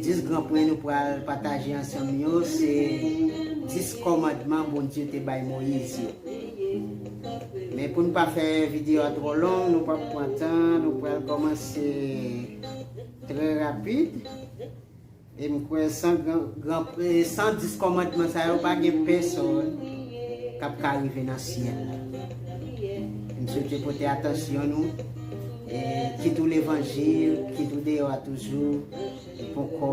10 gran pwen nou pral pataje ansanm yo se 10 kòmandman Bondye te bay Moyiz yo. Men pou nou pa fè videyo a twò long, nou pap pran tan, nou pral kòmanse trè rapid. E m kwè san gran, gran, san 10 kòmandman sa yo pa gen pèsòn kap ka rive nan syèl la. M swete pote atansyon nou Kit ou levanjil, kit ou deyò a toujou, ou poko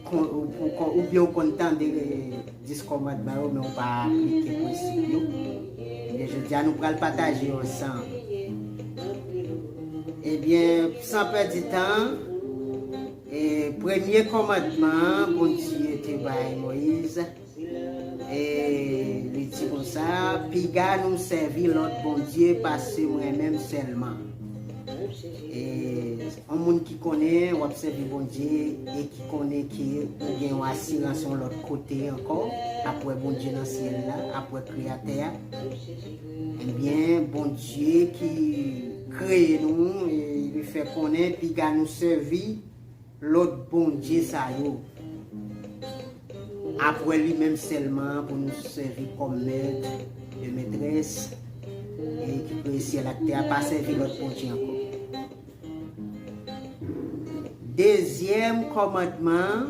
kon, ou poko, ou byen ou konn tande 10 kòmandman yo men ou pa aplike prensip yo. Ebyen jodi a nou pral pataje yo ansanm. Ebyen san pèdi tan, e premye kòmandman an Bondye te bay Moyiz. Eeeeh li di konsa piga nou sèvi lòt bondye pase mwen menm sèlman Eeeeh on moun ki konnen wap sèvi bondye e ki konnen ke ou gen yon asirans yon lòt kote ankò apwè bondye nan syèl la apwè kreyatè a ebyen bondye ki kreye nou e li fè konnen piga nou sèvi Lòt bondye sa yo. Apwè li menm sèlman an pou nou sèvi kòm mèt e mètrès e ki kreye syèl ak tè a pa sèvi lòt bondye ankò. Dezyèm kòmandman an.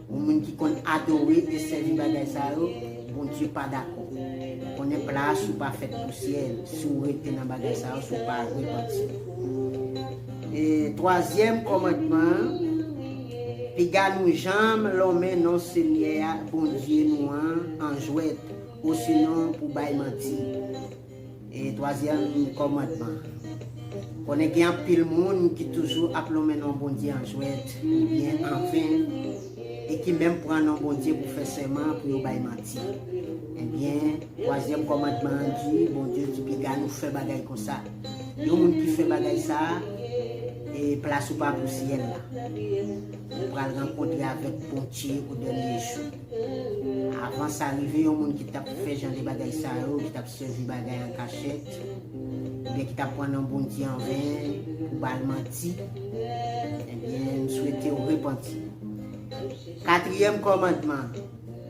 Yon moun ki konn adore e sèvi bagay sa yo, Bondye pa dakò. Konnen pla a si w pa fèt pousyè, si w rete nan bagay sa yo, si w pa repanti. E twazyèm kòmandman an, Piga nou janm lonmen non Senyè a, Bondye nou an, an jwèt, osinon pou bay manti. E twazyèm kòmandman. Konnen gen anpil moun ki toujou ap lonmen non Bondye an jwèt oubyen an ven e ki menm pran non Bondye pou fè sèman pou yo bay manti. Ebyen, twazyèm kòmandman an di, Bondye ki piga nou fè bagay konsa. Yon moun ki fè bagay sa a, e plas ou pa pou syèl la. Ou pral rankontre avèk Bondye o dènye jou. Avan sa rive, yon moun ki t ap fè jan de bagay sa yo, ki t ap sèvi bagay an kachèt, oubyen ki t ap pran non Bondye an ven pou ba l manti, ebyen, m swete w repanti. Katriyèm kòmandman,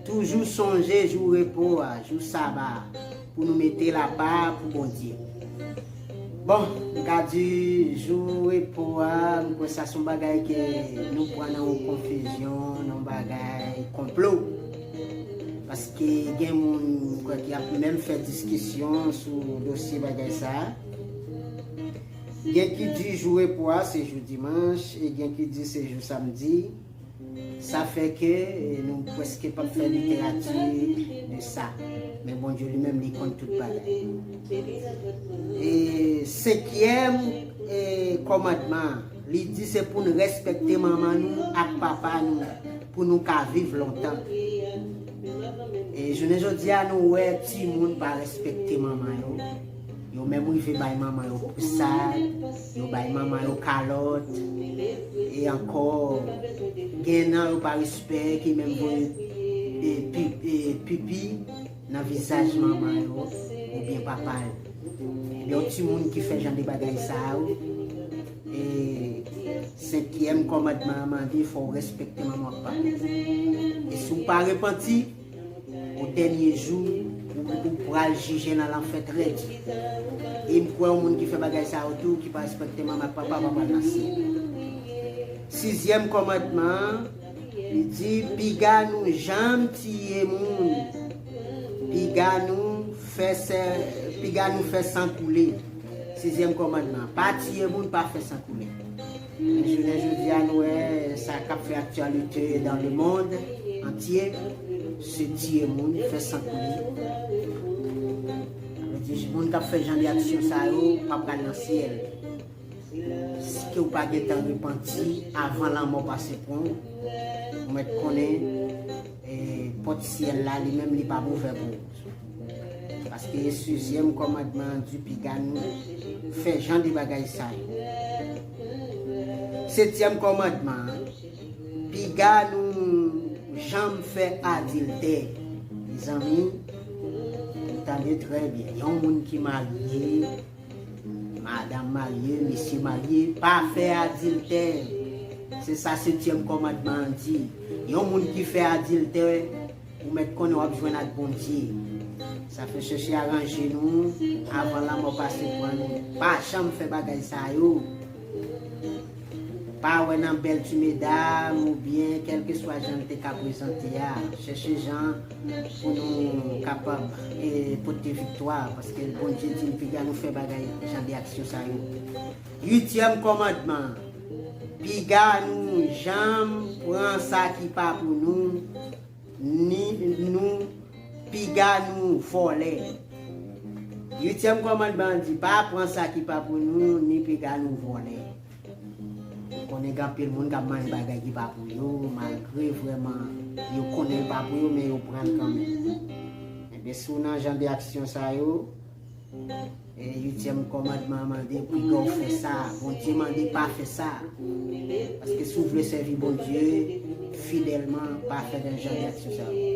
Toujou sonje jou repo a, jou Saba a. Pou nou mete l apa pou Bondye. Bon, m ka di jou repo a, m kwè sa son bagay ke nou pran nan yon konfizyon, nan yon bagay konplo. Paske gen moun m kwè ki ap menm fè diskisyon sou dosye bagay sa a. Gen ki di jou repo a se jou dimanch e gen ki di se jou samdi. Sa fè ke nou pwèske pap fè literati de sa. Men Bondye li menm li konn tout bagay. E senkyèm e kòmandman an, li di se pou n rèspèkte manman nou ak papa nou pou nou ka viv lontan. E jounen jodi a nou wè timoun pa rèspèkte manman yo. Yo menm rive bay manman yo pousad, yo bay manman yo kalòt, e ankò gen nan yo pa respè ki menm voye pipi nan vizaj manman yo oubyen papa yo. Ebyen yon timoun ki fè jan de bagay sa yo, e senkyèm kòmandman an mande fò w respekte manman w ak papa w. E si w pa repanti. Ou dènye jou ou pral jije nan lanfè trèt. E m kwè yon moun ki fè bagay sa yo tou ki pa respekte manman ak papa pa pral nan syèl. Sizyèm kòmandman an, li di, Piga nou janm tiye moun, piga nou fè piga nou fè san koule. Sizyèm kòmandman, pa tiye moun, pa fè san koule. Jounen jodi a nou wè sa kap fè aktyalite dan le mond antye se tiye moun, fè san koule. Sa vle di moun kap fè jan de aksyon sa yo pa pral nan syèl. Si ke ou pa gentan repanti avan lanmò pase pran w, ou mèt konnen pòt syèl la li menm li pap ouvè pou ou. Paske sizyèm kòmandman an di piga nou fè jan de bagay sa yo. Setyèm kòmandman an, Piga nou janm fè adiltè. Mezanmi, tande trè byen, yon moun ki marye, madanm marye, mesye marye, pa fè adiltè. Se sa setyèm kòmandman an di. Yon moun ki fè adiltè, Ou mèt konnen wap jwenn ak Bondye. Sa fè chèche aranje nou avan lanmò pase pran nou. Pa janm fè bagay sa yo. Pa wè nan bèl ti medam ou byen kèlke swa jan l te ka prezante a. Chèche jan pou nou kapab pote viktwa paske Bondye di n piga nou fè bagay jan de aksyon sa yo. Uityèm kòmandman an, Piga nou janm pran sa ki pa pou nou, ni nou piga nou vòlè. Uityèm kòmandman an di, Pa pran sa ki pa pou nou, ni piga nou vòlè. Ou konnen gen anpil moun k ap manje bagay ki pa pou yo, malgre vrèman yo konnen l pa pou yo, men yo pran l kanmenm. Enben, si w nan jan de aksyon sa yo, Uityèm kòmandman an mande pou ke w fè sa a. Bondye mande pa fè sa a. Paske si w vle sèvi Bondye fidèlman, pa fè nan jan de aksyon sa yo.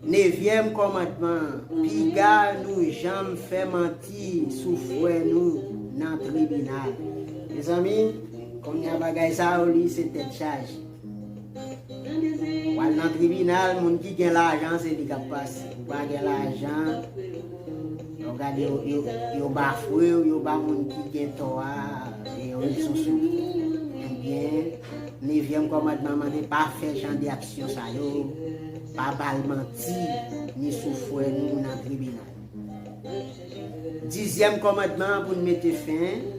Nevyèm kòmandman an, Piga nou janm fè manti sou frè nou nan tribinal. Mezanmi, kounye a bagay sa yo li se tèt chaje. Wal nan tribinal moun ki gen lajan se li kap pase ou pa gen lajan ou gade yo bafwew yo ba moun ki gen tò a e yo ret sou sou ebyen nevyèm kòmandman mande pa fè jan de aksyon sa yo pa bal manti ni sou fwè nou nan tribinal dizyèm kòmandman pou n mete fen.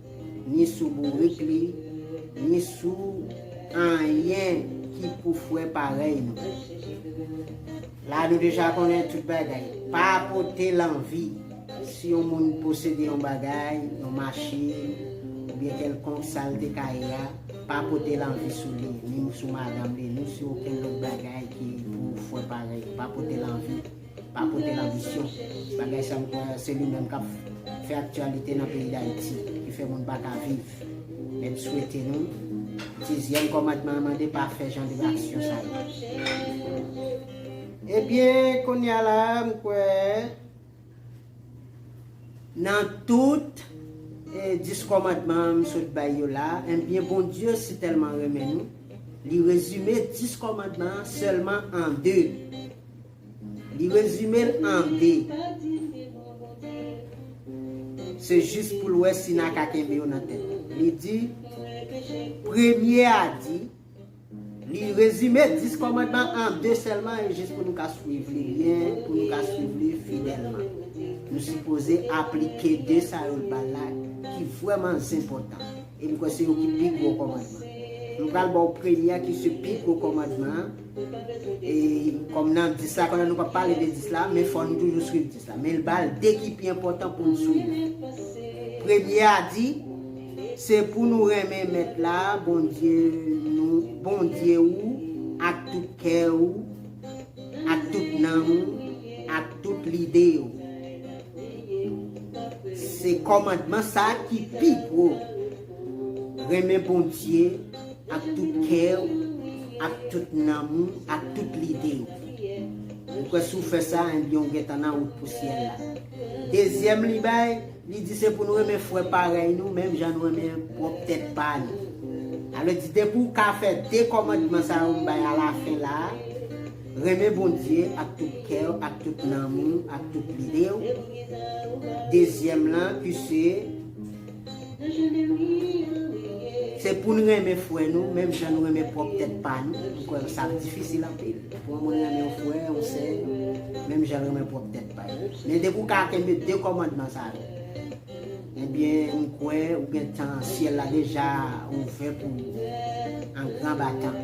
ni sou bourik li, ni sou anyen ki pou frè parèy nou. La nou deja konnen tout bagay. Pa pote lanvi, si yon moun posede yon bagay, yon machin, oubyen kèlkonk sa l te ka ye a, pa pote lanvi sou li, ni sou madanm li, ni sou okenn lòt bagay ki pou frè parèy, pa pote lanvi. Pa pote lanbisyon. Bagay sa m kwè se li menm kap fè aktyalite nan peyi Dayiti ki fè moun pa ka viv. Men m swete nou, dizyèm kòmandman an mande pa fè jan de aksyon sa yo. Ebyen kounye a la a m kwè nan tout 10 kòmandman an m sot bay yo la a, enbyen Bondye si tèlman renmen nou, li rezime 10 kòmandman an sèlman an 2. Li rezime l an 2. Se jis pou l wè si nan ka kenbe yo nan tèt. Li di, Premye a di, Li rezime 10 kòmandman an 2 sèlman e jis pou nou ka swiv li byen, pou nou ka swiv li fidèlman. Nou sipoze aplike 2 sa yo l ba l la ki vrèman zenpòtan. E m kwè se yo ki pi gwo kòmandman. M pral ba w premye a ki se pi gwo kòmandman an. Kòm nan 10 la, pandan nou pa pale de 10 la, men fò nou toujou swiv 10 la. Men l ba l 2 ki pi enpòtan pou n swiv. Premye a di, Se pou nou renmen Mèt la, Bondye nou, Bondye ou, ak tout kè ou, ak tout nanm ou, ak tout lide ou. Se kòmandman sa a ki pi gwo, renmen Bondye, Ak tout kè ou, ak tout nanm ou, ak tout lide ou. Mwen kwè si w fè sa, enbyen ou gentan nan wout pou syèl la. Dezyèm li bay, li di se pou nou renmen frè parèy nou menm jan nou renmen pwòp tèt pa nou. Sa vle di depi w ka fè de kòmandman sa yo m bay alafen la a, renmen Bondye ak tout kè ou, ak tout nanm ou, ak tout lide ou, dezyèm lan ki se. Se pou n renmen frè nou menm jan nou renmen pwòp tèt pa nou. M kwè sa ap difisil anpil pou yon moun renmen yon frè, yon sè, menm jan l renmen pwòp tèt pa l. Men depi w ka kenbe de kòmandman sa yo, ebyen m kwè ou gen tan syèl la deja ouvè pou ou an gran batan.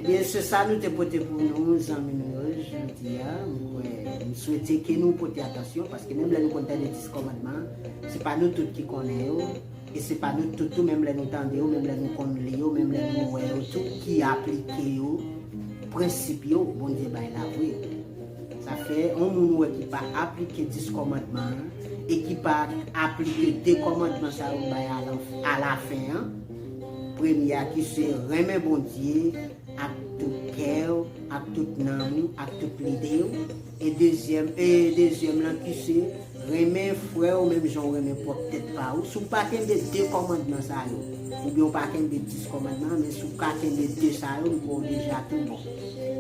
Ebyen se sa nou te pote pou nou zanmi nou yo jodi a, mwen kwè, m swete ke nou pote atansyon paske menm lè nou konn tande 10 kòmandman, se pa nou tout ki konnen yo, e se pa nou tout tou menm lè nou tande yo, menm lè nou konn li yo, menm lè nou wè yo tou ki aplike yo, prensip yo Bondye bay la vre. Sa fè, yon moun ou wè ki pa aplike 10 kòmandman an, e ki pa aplike 2 kòmandman sa yo bay a lafen an, Premye a ki se renmen Bondye ak tout kè w, ak tout nanm ou, ak tout lide w, e dezyèm e dezyèm lan ki se renmen frè w menm jan w renmen pwòp tèt pa ou, si w pa kenbe de kòmandman sa yo, oubyen w pa kenbe dis kòmandman an, men si w ka kenbe de sa yo, m kwè w deja tou bon.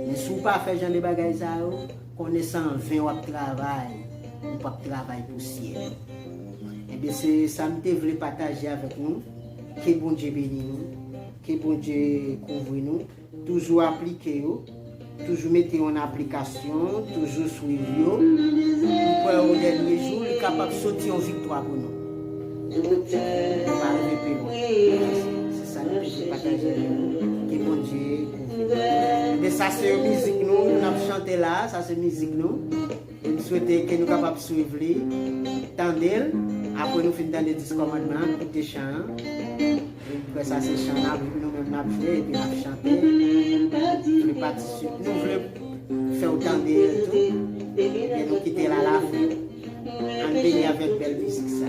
Men si w pa fè jan de bagay sa yo, Konnen sa anven wap travay ou pap travay pou syèl enben se sam te vle pataje avèk nou ke Bondye beni nou ke Bondye kouvri nou toujou aplike yo toujou mete yo an aplikasyon toujou swiv yo m kwè o dènye jou li kapab soti yon viktwa pou nou nou pa rive pi lwen se sa nou te vle pataje avèk nou ke Bondye. Ebyen sa se mizik nou nou ap chante la sa se mizik nou m swete ke nou kapab swiv li tande l apre nou fin tande 10 kòmandman an koute chan an m kwè sa se chan nap nou menm nap jwe epi nap chante nou patisipe nou vle fè w tande l tou ebyen nou kite l a la fen ann beni avèk bèl mizik sa.